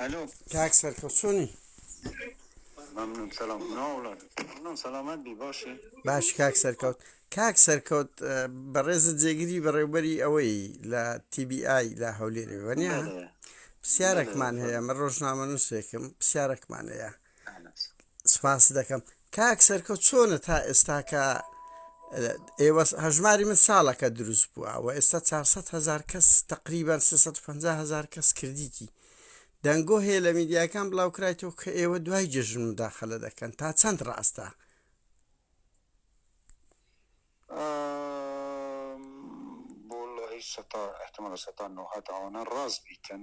الو کاک سەرکەو چۆنی ممنون سلام ناوڵات ممنون سلامت بی باشی باش کاک سەرکەوت کاک سەرکەوت بەڕێزت جێگیری بەڕێوبەری ئەوەی لە TBI لە هەولێرەوەنیە پرسیارێکمان هەیە من ڕۆژنامە نووسێکم پرسیارێکمان هەیە سپاست دەکەم کاک سەرکەوت چۆنە تا ئێستاکە ئێوە هەژماری من ساڵەکە دروست بووە و ئێستا 400 هزار کەس تقریبان 350 هزار کەس کردیتی دەنگۆ هەیە لە میدیاکان بڵاوکرایتەوە کە ئێوە دوای جێژن مداخلە دەکەن تا چەند ڕاستە بۆڵی سەتا احتمال سەتا نهات ئەوانە ڕاست بیتن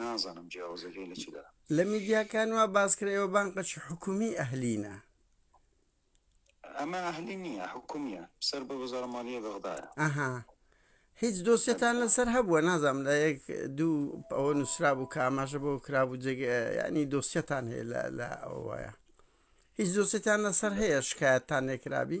نازانم جیاوازەکەی لە چدا. لە میدیاکان وا باس کرد ئێوە بانقەکی حکومی ئەهلینە. ئەمە ئەهلی نییە حکومیە سەر بە وەزارە مالیە بەغدایە. ئەها هیچ دۆسیەتان لەسەر هەبووە نازام لە یەک دوو ئەوە نووسرا بوو کە ئاماژە بۆ کرابوو جێگە ینی دۆسیەتان هەیە لە لە ئەوەیە هیچ دۆسیەتان لەسەر هەیە شکایەتتان لێکرابی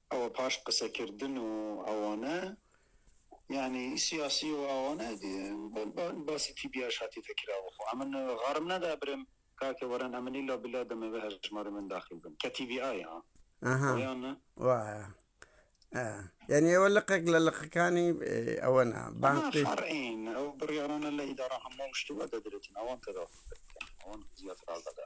ئەوە پاش قسەکردن و ئەوانە یانی سیاسی و ئەوانە باسی تیبیاش هاتیتە کرا وخۆ ئەمن غارم نەدا برم کاکە وەرن ئەمنی لا بلا دەمەوێ هەژماری من داخل بن کە تیبی ئایا وایە یعنی ئەوە لقێک لە لقەکانی ئەوەنا بانقی ئەو بڕیارانە لە ئیدارە هەموو شتوە دەدرێتن ئەوان تەدا ئەوان زیاتر ئازادە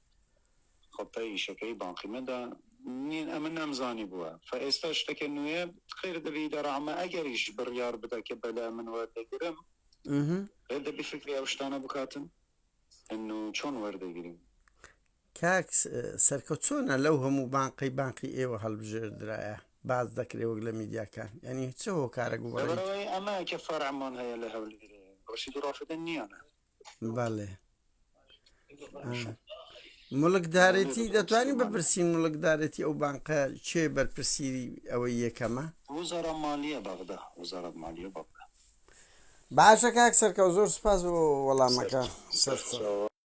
خۆ پەی ئیشەکەی باقی مەدە. نین ئەمە نەمزانیبووە فە ئێستا شتەکە نوێیە خێر دەبی دە ڕامە ئەگەریش بڕیار بدا کە بەلا من وەردەگرم خێر دەبی فکری ئەو شتانە بکاتن ئەن و چۆن وەردەگرین کاک سەرکە چۆنە لەو هەموو بانقەی بانقی ئێوە هەڵبژێردرایە باز دەکرێ وەک لە میدیاکان ینی چ هۆکارە گوڵەوەی ئەمە کە فەرمان هەیە لە هەولێرێ ڕشید ڕافدە نییانە بەڵێ مڵکدارێتی دەتوانین بپرسین مڵکدارێتی ئەو بانقە چێ بەرپرسیری ئەوەی یەکەمە وزارە مالیە بەغدا وزارەت مالیە بەغدا باشە کاک سەرکەوت زۆر سپاس بۆ وەڵامەکە سەر